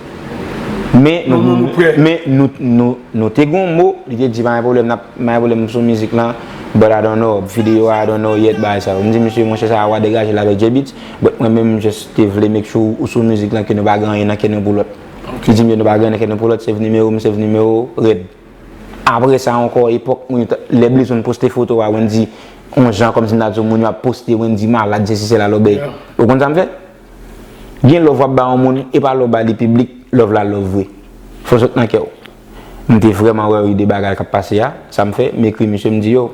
Speaker 2: Men, nou te gen yon mo, li te di pa gen pwoblèm, n ap, pa gen pwoblèm m sou mizik lan, bòt I don't know, videyo a I don't know yet bagay sa yo. M di misye, monchè sa a wa degaje l avèk J-Beatz, bòt mwen menm m just te vle make sure ou sou mizik lan ke nou pa gen anyen nan kè nou pou lòt. Li di m yo nou pa gen ankenn pou lòt, save nimewo m, save nimewo w, red. Apre sa ankò epòk moun yo t, lè Blaze One poste foto a Wendy on jan kòmsi m ta di w moun yo ap poste Wendy malad sesi sela lòbèy. Ou konn sa m fè? Gen love w ap ba yon moun e pa lè w ba li piblik love la love vre. Fò sot nan kè w. M te vrèman wè wi de bagay k ap pase a, sa m fè? M ekri misye m di yo,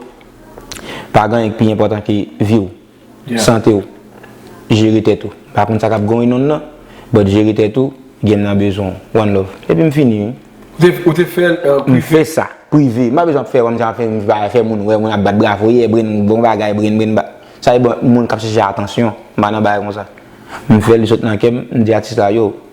Speaker 2: pa gen anyen k pi enpòtan ke vi w. Sante w. Jere tèt ou. Pa konn sa kap going on nan, but jere tèt ou, game nan bezwen w. One love. Epi m fini wi. Ou te fè
Speaker 1: l prive? M fè sa.
Speaker 2: Prive. M pa bezwen ap fè kòmsi ap fè m pa fè moun wè mwen ap bat bravo yeah Brain bon bagay Brain Brain ba Sa se pou moun kap chèche atansyon. M pa nan bagay konsa. M fè l li sot nan kè m, m di atis la yo.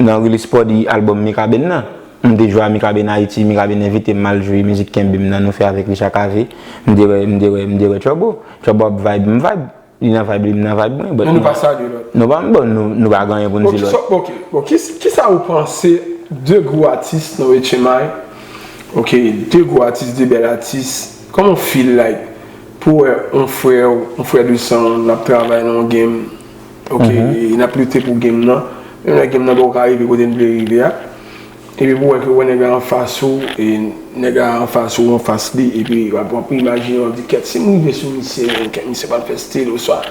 Speaker 2: Nan release party album Mikaben nan, m te jwe a Mikaben Ayiti, Mikaben envite m al jwe mizik Kenbe m nan nou fè avèk Richard Cavé, m te wè, m te wè, m te wè Trouble. Trouble ap vibe, m vibe. Li nan vibe li, m nan vibe mwen, but. Bon nou pa salye lòt.
Speaker 1: Nou pa, bon nou,
Speaker 2: nou pa gen anyen pou n di lòt. Ok, bon
Speaker 1: kisa ou panse de gwo atis nan Etchenmay, ok, de gwo atis, de bèl atis, kòman ou feel like pou wè yon frè w, yon frè de san w, l ap travay nan yon game, Ok e nap lite pou game nan Menm lè game nan poko ka rive kote n vle rive a Epi pou wè ke wè nèg la anfas ou e nèg la anfas ou anfas li epi wap imajine wap di kèt si m rive sou misye menm kèt misye pap fè stil oswa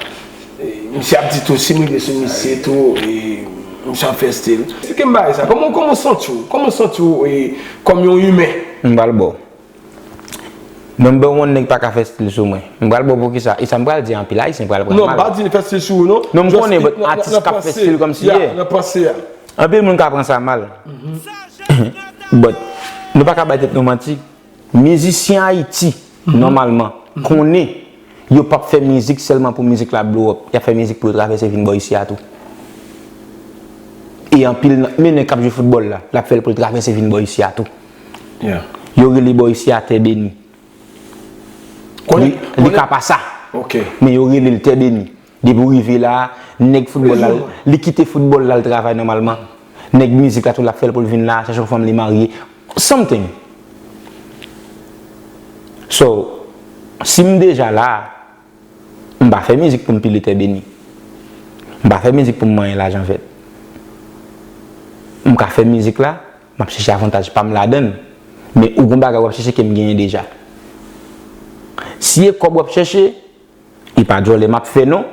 Speaker 1: misye ap di tou si m rive sou misye tou e misye ap fè stil. Eksplike m bagay sa, kòman w santi w kòman w santi w e kòm yon imen? M pral ba w.
Speaker 2: Number one nèg paka fè stil sou mwen. M pral bo poukisa? Esam pral di a anpil ayisyen pral pran mal. Non m pa di li fè stil
Speaker 1: sou ou non. Non m konnen but atis
Speaker 2: kap fè stil kòm si ye. Nan panse a.
Speaker 1: Anpil moun ka pran
Speaker 2: sa mal. But nou paka bay tèt nou manti. Mizisyen ayiti nòmalman konnen yo pap fè mizik sèlman pou mizik la blow up. Yap fè mizik pou yo travèse vin bò isi a tou. E anpil nan men nèg kap jwe foutbòl la lap fèl poul travèse vin bò isi a tou. Yo rele bò isi
Speaker 1: a
Speaker 2: tè beni. Li ka pa sa. Men yo
Speaker 1: rele l tè
Speaker 2: beni. Depi w rive la, nèg foutbòl la, li kite foutbòl la l travay nòmalman. Nèg mizik la tou l ap fè l pou l vin la, chèche yon fanm li marye. Something. So, si m deja la, m pa fè mizik pou m pile tè beni. M pa fè mizik pou m manyen lajan vèt. M ka fè mizik la. Map chèche avantaj pam ladann. Men ou gon bagay wap chèche kem genyen deja. Si e kòb wap chèche, e pa djòlè map fè non,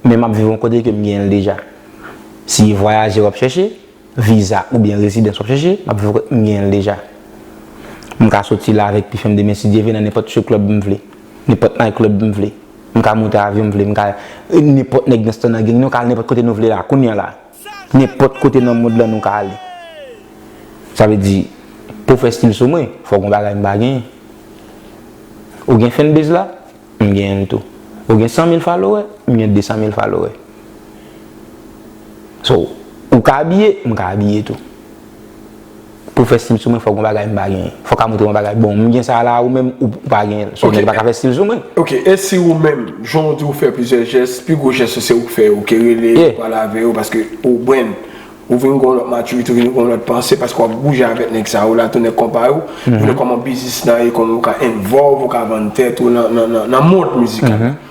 Speaker 2: men map viv yon kote kem genyenl deja. Si e vwayaje wap chèche, viza oubyen rezidans wap chèche, map viv yon kote m genyenl deja. M ka soti la avèk pifèm demen si Dye vle nan nenpòt strip club m vle, nenpòt night club m vle. M ka moute avyon m vle, m ka nenpòt nèg nan stanageng nou ka al nenpòt kote nou vle la kounya la. Nenpòt kote nan mond lan nou ka ale. Sa vle di, pou w fè stil sou mwen, fòk gon bagay m pa genyen. Ou gen fanbase la? M genyen l tou. Ou gen 100 mil falowè? M gen 200 mil falowè. So, ou ka abiye, m ka abiye tou. Pou fè stil sou mwen fòk gon bagay m pa genyen. Fòk a montre yon bagay bon m gen sa la ou menm ou pa gen l. So nèg pa ka fè stil sou mwen. Ok, e si ou
Speaker 1: menm, jan ou di ou fè plizyè jès, pi gwo jès ou se ou k fè yo, ke rele yo, pale avè yo paske ou brenn. Ou vin gen yon lòt matirite, ou vin gen yon lòt panse paske w ap bouje avèk nèg sa yo la tou, nèg konpa yo. Ou konnen kòman biznis nan ye, kòman ou ka envòlv, ou ka vann tèt ou nan mond mizikal la.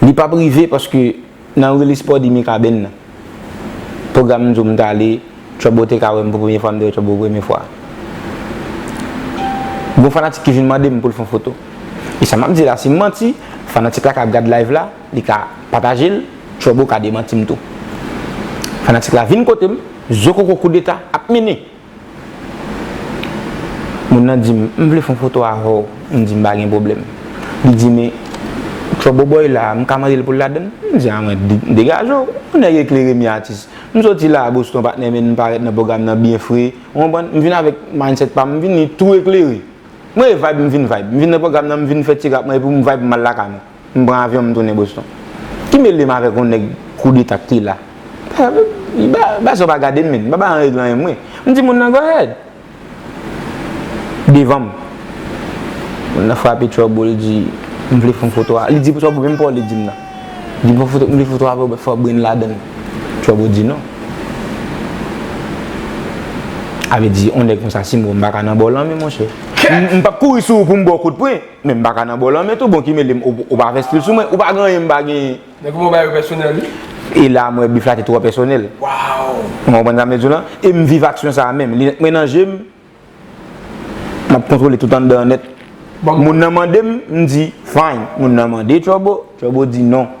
Speaker 2: Li pap rive paske nan release party Mikaben nan pwogram m di w m t ale Turbo te ka wè m pou premye fwa m te wè Turbo pou premye fwa gon fanatik ki vin mande m pou l fè yon foto e sa m ap di la si m manti fanatik la ka ap gad live la li ka pataje l Turbo ka demanti m tou fanatik la vin kote m zokoko koudeta ap mennen. Moun nan di m, m vle fè yon foto avè w. M di m pa gen pwoblèm. Li di men, Trouble Boy la, m ka mande l pou l ladann? M di a mwen, degaje w, yon nèg eklere mi atis. M soti la a Boston patnè men m parèt nan pwogram nan byen fre, ou konprann? M vin avèk mindset pa m, m vini tou eklere. Mwen e vibe m vin vibe. M vin nan pwogram nan m vin fè ti rap mwen epi m vibe m al lakay mwen. M pran avyon m tounen Boston. Ki mele m avèk yon nèg koudeta k te la? Bassèw pa gade m menn, m pa bay anreg lan menm mwen. M di moun nan go ahead. Devan m. Moun nan frape Trouble l di, m vle fon foto a. Li di pou Trouble menm pa w li di m nan. Li di m vle foto avèw men fò brin ladan l. Trouble di non. A vle di yon nèg konsa si m wè w m pa ka nan ba w lanmen monchè. M pap kouri sou ou pou m ba w kout pwen. Men m pa ka nan bò lanmen tou, bon ki mele m, ou pa fè stil sou mwen, ou pa gen anyen m pa genyen. Men kouman w bay yo pèsonèl
Speaker 1: wi. E la m wè
Speaker 2: bif la te twò pèsonèl. Waww. Ou konprann
Speaker 1: sa m vle di w lan?
Speaker 2: E m viv aksyon sa a menm. Linèt mwen nan je m, m ap kontwole tout anndan an nèt. Moun nan mande m, m di, fine. Moun nan mande Turbo, Turbo di non.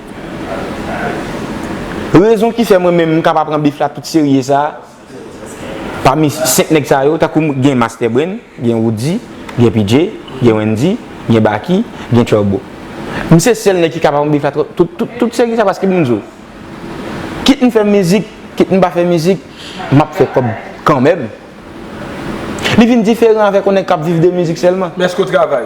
Speaker 2: Rezon ki fè mwen menm m ka pa pran bif la tout serye sa, pami 5 nèg sa yo, tankou m gen Master Brain, gen Roody, gen PJ, gen Wendy, gen Baky, gen Turbo. M se sèl nèg ki ka pa pran bif la tout serye sa paske m di w, kit m fè mizik, kit m pa fè mizik, m ap fè kòb kanmenm. Li vin diferan avèk yon nèg k ap viv de mizik sèlman. Men èske w travay?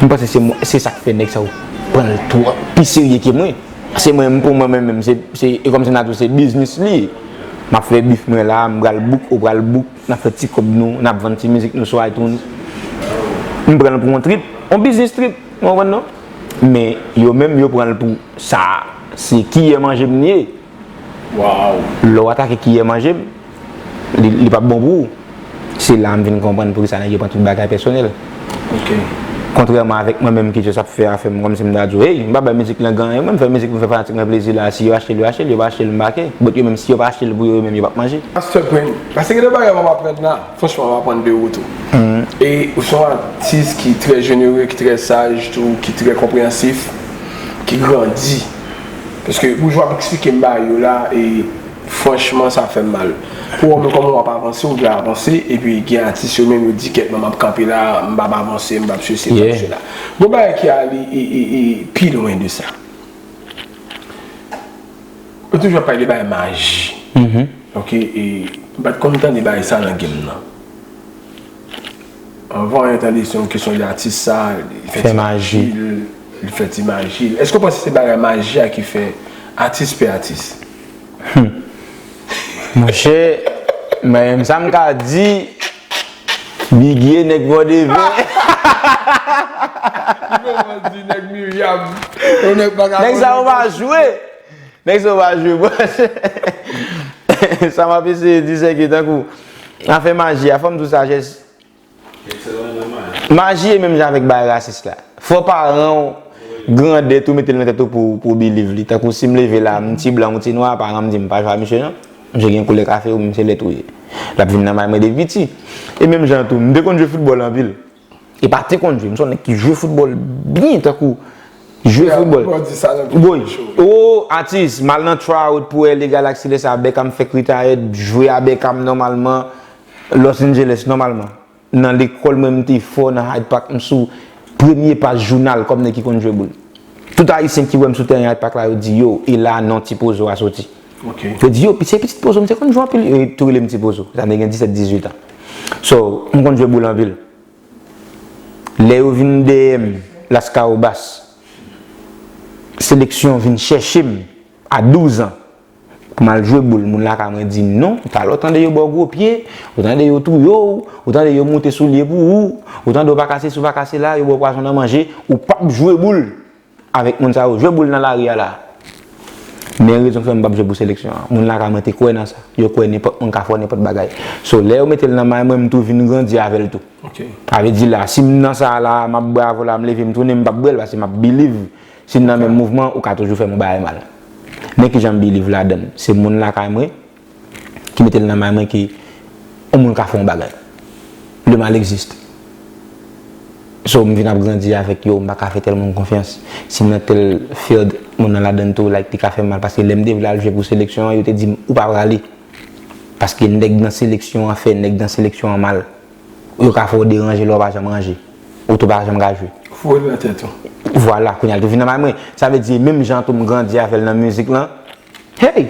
Speaker 2: M panse se mwen se sak fè nèg sa yo pranl twòp pi serye ke mwen se mwen pou mwen menm se e kòmsi nan tou se biznis li ye map fè bif mwen la m pral bouk ou pral bouk nap fè ti kòb nou nap vann ti mizik nou sou itunes m pranl pou yon trip yon biznis trip ou konprann non men yo menm yo pranl pou sa se kiyè manje m ye.
Speaker 1: Lè w atake kiyè
Speaker 2: manje m, li pap bon pou ou. Se la m vin konprann poukisa nèg yo pran tout bagay pèsonèl.
Speaker 1: Kontrèman
Speaker 2: avèk mwen menm ki just ap fè afè m kòmsi m ta di w hey, m pa bay mizik lan gan, mwen m fè mizik pou m fè fanatik mwen plezi la a, si yo achte l yo achte l, yo pa achte l m pa kè. But yo menm si yo pa achte l pou yo yo menm yo pap manje. Pastè Prince, pase
Speaker 1: gen de bagay m ap aprann la, franchman m ap aprann de ou tou. E ou se yon atis ki trè jenere, ki trè saj tou, ki trè konpreyansif, ki grandi. Paske boujwa ap eksplike m ba yo la e franchman sa fè m mal. Pou wè w menm kòman w ap avanse, w vle avanse epi gen atis yo menm yo di kèk nan m ap kanpe la, m pa p avanse, m pa p sesi, m pa p sela. Gon bagay ki ale pi lwen de sa. Yo toujou ap pale de bagay maji. Ok e m pa t konn tande bagay sa nan game nan. Anvan yon tande se yon kesyon de atis sa, li fè ti maji,
Speaker 2: li fè ti
Speaker 1: maji. Eske w panse se bagay maji a ki fè atis pi atis?
Speaker 2: Monchè, mwen sa m ka di, Biggie nèg Vòdeve. Ki fè w pa di nèg Miryam? Nèg sa yo pa jwe. Nèg sa yo pa jwe. Sa m ap eseye di se ke tankou Afè maji a, fò m di w sajès. Ekselan nan maji. Maji e menm jan avèk bagay rasis la. Fò paran w, grandè tou mete l nan tèt ou pou w biliv li. Tankou si m leve la, m ti blan ou ti nwa, paran m di m pa jwe ak misye non. Misye gen koulè kafe ou menm se lèt ou ye. L ap vin nan may mwen depi piti. E menm jan tou, m te konn jwe foutbòl anpil. E pa te konn jwe. M son nèg ki jwe foutbòl byen tankou jwe foutbòl. Bon di sa nan videyo Woy, chou. oo atis, m al nan tryout pou LA Galaxy lè sa a Beckham fèk retired, jwe a Beckham nòmalman Los Angeles nòmalman. Nan lekòl mwen m te fò nan Hyde Park m sou premye paj jounal kòm nèg ki konn jwe boul. Tout ayisyen ki wè m sou tèren Hyde Park la yo di yow e la a non Tipozo a soti. Yo di yo, se pitit pozo, m te konn jwe anpil, yo tou rele m ti pozo, sa vle gen 17, 18 an. So, m konn jwe boul anpil. Lè yo vin dèyè m, Laskawobas, seleksyon vin chèche m, a 12 an, pou m al jwe boul, moun lakay mwen di m non, talè w tande yo ba w gwo pye, ou tande yo touye w, ou tande yo moute soulye pou ou, ou tande w pa ka sesi, ou pa ka sela, yo ba w pwazon nan manje, ou p ap jwe boul. Avèk moun sa yo jwe boul nan lari a la. Men rezon fè m pap jwe pou seleksyon an. Moun lakay mwen te kwè nan sa. Yo kwè nenpòt moun ka fè w nenpòt bagay. So lè yo mete l nan may mwen m tou vin grandi avè l tou. Sa vle di la si m nan sa la a m ap bravo la a m leve m tounen m pap bwè l paske m ap biliv si n nan menm mouvman ou ka toujou fè m yon bagay mal. Men kijan m biliv ladan l. Se moun lakay mwen ki mete l nan may mwen ke yon moun ka fè yon bagay. Le mal existe. So m vin ap grandi avèk yo, m pa ka fè tèl moun konfyans. Si m nan tèl field, moun nan ladan l tou, like li ka fè m mal. Paske lè m te vle al jwe pou seleksyon an, yo te di m ou pa prale. Paske nèg nan seleksyon an fè nèg nan seleksyon an mal. Yo ka fè w deranje lè w pa janm ranje. Ou tou pa janm ka jwe. Ou foure l nan tèt ou.
Speaker 1: Vwala, kounye a l
Speaker 2: tou vin nan may mwen. Sa vle di menm jan tou m grandi avè l nan mizik lan, hey!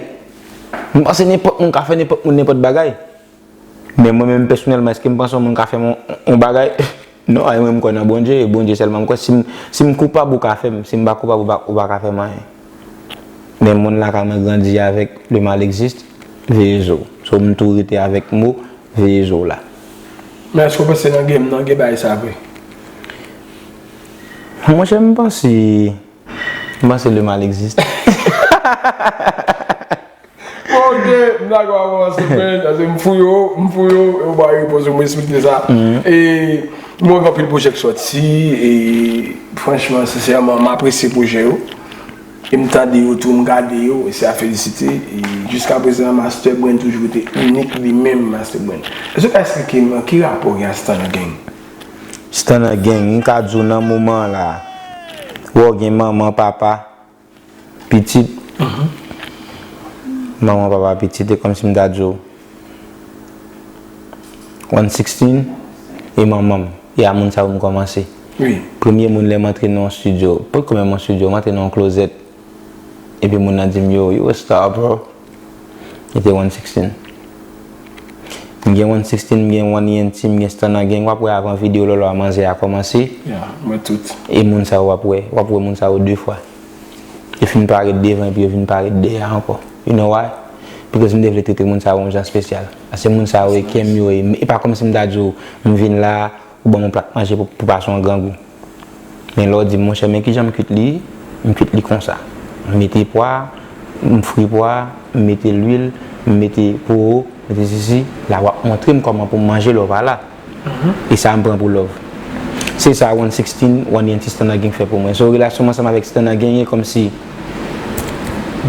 Speaker 2: M panse nenpòt moun ka fè nenpòt moun nenpòt bagay. Men mwen menm pèsonèlman èske m panse yon moun ka fè m yon bagay? Non, e mwen m kwè nan Bondye e Bondye sèlman m kwè. Si m koupab ou ka fè m, si m pa koupab ou pa ka fè m anyen. Men moun lakay mwen grandi avèk le mal existe, veye zo w. So m tou rete avèk mo veye zo w la. Men èske w
Speaker 1: panse nan game nan gen bagay sa vre?
Speaker 2: Monchè m panse. M panse le mal existe.
Speaker 1: Bon ok, m dakò avè w ase byen, ase m fouye w, m fouye w e w ba repons yo, m respekte sa. E m wè gen anpil pwojè k sòti e franchman, sensèman m apresye pwojè yo e m tande yo tou, m gade yo e se a felisite. E jiska prezan Master Brain toujou rete inik li menm Master Brain. Èske w ka esplike m ki rapò w gen ak Standard Gang? Stana
Speaker 2: Gang, m ka di w nan moman an la a, wè w gen manman, papa, pitit, manman, papa, pitit e kòmsi m ta di w one sixteen e manman m, e a moun sa yo m kòmanse. Premye
Speaker 1: moun lè m antre
Speaker 2: nan yon stidyo, potko menm yon stidyo, m antre nan yon klozèt. Epi moun nan di m yo, you a star bro. Li te one sixteen. M gen one sixteen, m gen one ENT, m gen Stunner Gang. Wap wè avan video Lolo a manzè a kòmanse. Yeah, m wè tout.
Speaker 1: E moun sa yo wap
Speaker 2: wè. Wap wè moun sa yo 2 fwa. Yo fin parèt devan epi yo vin parèt dèyè ankò. You know why? Because m te vle trete moun sa yo yon jan spesyal. Paske moun sa yo e kè m yo e. E pa kòmsi m ta di w, m vin la, ou ban m yon plat manje pou pa son grangou. Men lè w di m, monchè men kijan m kuit li, m kuit li konsa. M mete pwa, m fri pwa, m mete lwil, m mete powo, m mete sesi, la w ap montre m kòman pou m manje love a la. E sa m pran pou love. Se sa One Sixteen, One Yen ti Stunna King fè pou mwen. So relasyon m ansanm avèk Stunna genyen kòmsi,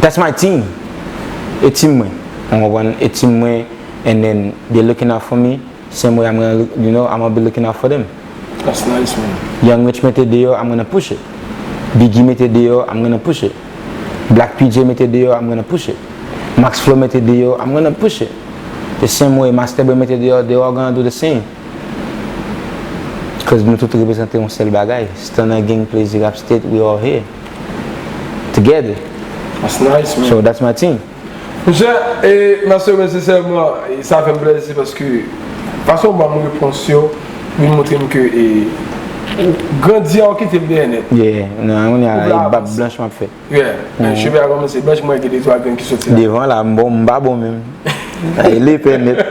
Speaker 2: that's my team! E team mwen, ou konprann? E team mwen and then they looking out for me. Same way I'm gonna look you know I'ma be looking out for them That's
Speaker 1: nice man Young Rich mete deyò
Speaker 2: I'm gonna push it Biggie mete deyò I'm gonna push it Black PJ mete deyò I'm gonna push it Max Flow mete deyò I'm gonna push it The same way Master Bwe mete deyò They all gonna do the same Cuz nou tout reprezante yon sèl bagay Stunner Gang Plezi Rap State We all here Together That's
Speaker 1: nice man So that's my team.
Speaker 2: Mesye
Speaker 1: e mèsi yo mesye sèlman sa fèm plèzi paske fason ou banm repons yo vin moutrem ke e ou grandi a ou kitel dèyè nèt. Yeah nan kounye
Speaker 2: a e bab blanch map fè. Yeah men cheve a
Speaker 1: kòmanse blanch mwen wè gen de twa grenn ki soti la. Devan la m bon m pa bon
Speaker 2: menm. Lepè nèt.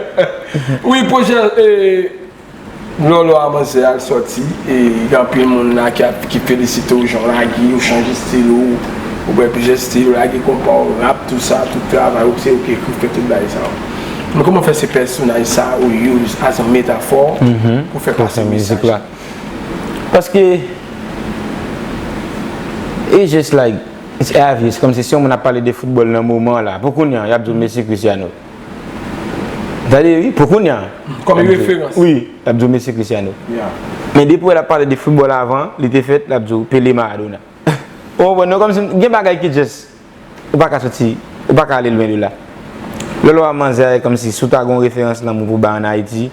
Speaker 2: Wi
Speaker 1: projè e. Lolo a manzè al sòti e gen anpil moun la ki ap ki felisite w jan w lage ou chanje stil ou ou pran plizyè stil ou lage konpa w rap tout sa tout travay ou se ou ki ekri ou fè tout bagay sa yo men kòman fè se pèsonaj sa ou use as an metafò pou fè pase mesaj la paske
Speaker 2: it's just like it's obvious kòmsi si yon moun ap pale de foutbòl nan moman la pou kounya y ap di w Messi Cristiano. Tande wi, pou kounya. Kòm referans.
Speaker 1: Wi, l ap di w Messi
Speaker 2: Cristiano. Men
Speaker 1: depi wè l ap pale
Speaker 2: de foutbòl avan li te fèt, l ap di w Pele Maradona. Ou konprann non? Kòmsi gen bagay ki just ou pa ka soti, ou pa ka ale lwen de la. Lè l wè manzè a e kòmsi si w ta gen yon referans lanmou pou bay ann Ayiti,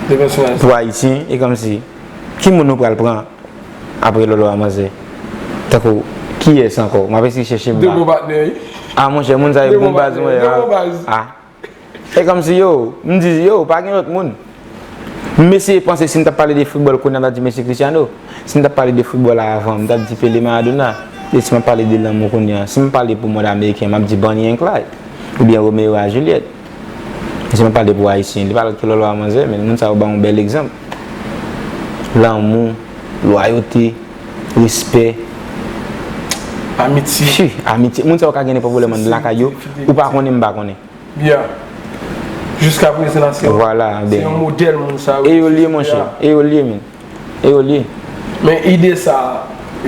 Speaker 2: pou Ayisyen, e kòmsi ki moun nou pral pran? Apre lolo a manzè. Tankou kiyès ankò? Map eseye chèche blan. 2 bon patnè wi. Ah monchè moun sa yo bon baz mwen. 2 bon baz. Ah. Se kòmsi yo, m di yo, pa gen lòt moun. M eseye panse si m tap pale de foutbòl kounya m tap di Messi Cristiano. Si m tap pale de foutbòl a avan, m tap di Pele Maradona. E si map pale de lanmou kounya, si m pale pou mòd ameriken, map di Bonnie and Clyde. Oubyen Romeo a Juliette. Misye pa pale pou Ayisyen, li pa pale pou lòlò a manzè, men moun sa yo ba yon bèl egzanp. Lanmou, lwayote, respè.
Speaker 1: Amitye. Fi, amitye. Moun sa yo ka gen
Speaker 2: nenpòt pwoblèm anndan lakay yo, ou pa konnen m pa konnen. Ya.
Speaker 1: Jiska prezan se yon
Speaker 2: modèl moun
Speaker 1: sa yo. E yo l ye monchè,
Speaker 2: e yo l ye men. e yo li. Men ide sa
Speaker 1: a,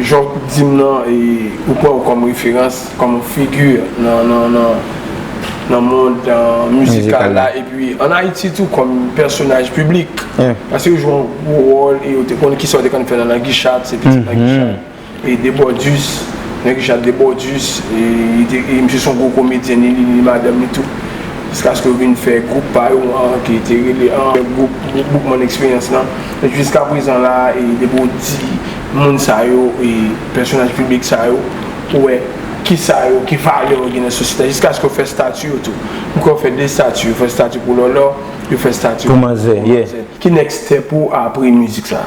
Speaker 1: jan w di m nan e ou pran w kòm referans, kòm figi nan mond mizikal la epi an Ayiti tou kòm pèsonaj piblik paske yo jwe yon gwo wòl e yo te konnen kisa yo te konn fè nan Langi Chat se piti Langi Chat. E de bòdus nèg jat de bòdus e misye son gwo komedyen ni li ni madanm li tou jiskaske yo vin fè gwoup pa yo an ki te rele an gwoup boukman eksperyans lan e jiska prezan la e depi ou di moun sa yo e pèsonaj piblik sa yo ou wè kisa yo ki valè yo gen nan sosyete jiskaske yo fè stati yo tou m kwè yo fè 2 stati yo fè stati pou lòlò yo fè stati pou manzè
Speaker 2: ki next
Speaker 1: step ou apre mizik sa.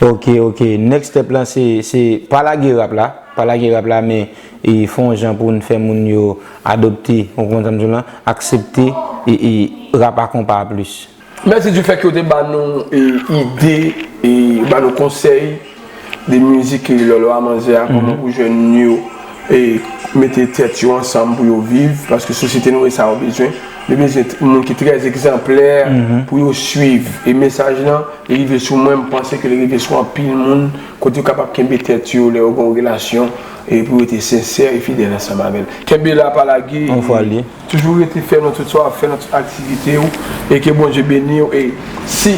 Speaker 1: Ok
Speaker 2: ok next step lan se se pa lage rap la pa lage rap la men e fon jan poun fè moun yo adopte ou konprann sam di w lan aksepte e e rap a konpa a plis. Mèsi du fèt ke w te
Speaker 1: ba nou e ide e ba nou konsèy de mizik e lòlò a manzè a kòman pou jèn yo e mete tèt yo ansanm pou yo viv paske sosyete nou e sa yo bezwen yo bezwen moun ki trè egzanplè pou yo swiv e mesaj lan Li rive sou mwen, m panse ke li rive sou anpil moun, kote yo kapab kenbe tèt yo lè yo gen yon relasyon, e pou yo rete sensè e fidèl ansanm avè l. Kenbe la, pa lage, e toujou rete fèm nan tout sa w ap fè, nan tout aktivite w, e ke Bondye beni w, e si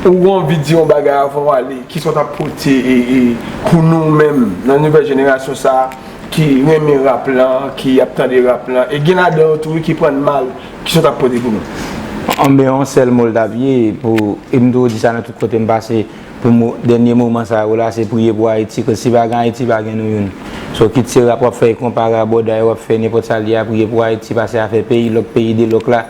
Speaker 1: ou gen anvi di yon bagay avan w ale, kisa w t ap pote pou nou menm nan nouvèl jenerasyon sa a ki renmen rap lan, ki ap tande rap lan, e gen ladan yo tou wi ki pran l mal. Kisa w tap pote pou nou? Anben yon sèl mo l tap
Speaker 2: ye pou e m toujou di sa nan tout kote m pase pou mo dènye moman sa yo la se priye pou Ayiti koz si pa gen Ayiti pa gen nou youn so kit se rap wap fè e konpa raboday wap fè nenpòt sa l ye a priye pou Ayiti pase afè peyi lòk peyi de lòk la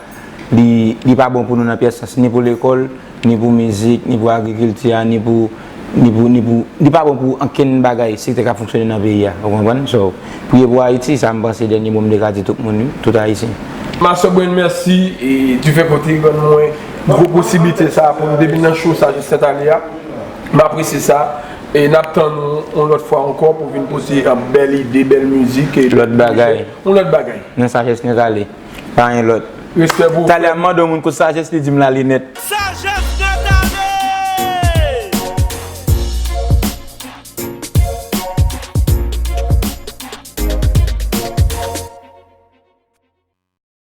Speaker 2: li li pa bon pou nou nan pyès sans ni pou lekòl Ni pou mizik, ni pou agrikilti a, ni pou, ni pou, ni pou, li pa bon pou ankenn bagay, sektè k ap fonksyone nan peyi a. Ou konprann? So, priye pou Ayiti, sa m panse dènye mo m te ka di tout moun wi, tout Ayisyen. Ma sœur Brain
Speaker 1: merci du fait ke w te rann mwen gwo posiblite sa pou m te vin nan show sa jis sèt ane a. M apresye sa. E n ap tann ou yon lòt fwa ankò pou w vin pote bèl ide, bèl mizik e bèl pwojè. Yon lòt bagay. Yon lòt
Speaker 2: bagay. Nan
Speaker 1: sajès nou prale.
Speaker 2: Pa gen lòt. Respè pou ou frè m. Talè
Speaker 1: a m
Speaker 2: mande yon moun kot sajès li di m
Speaker 1: la
Speaker 2: li nèt. Sajès nèt ale!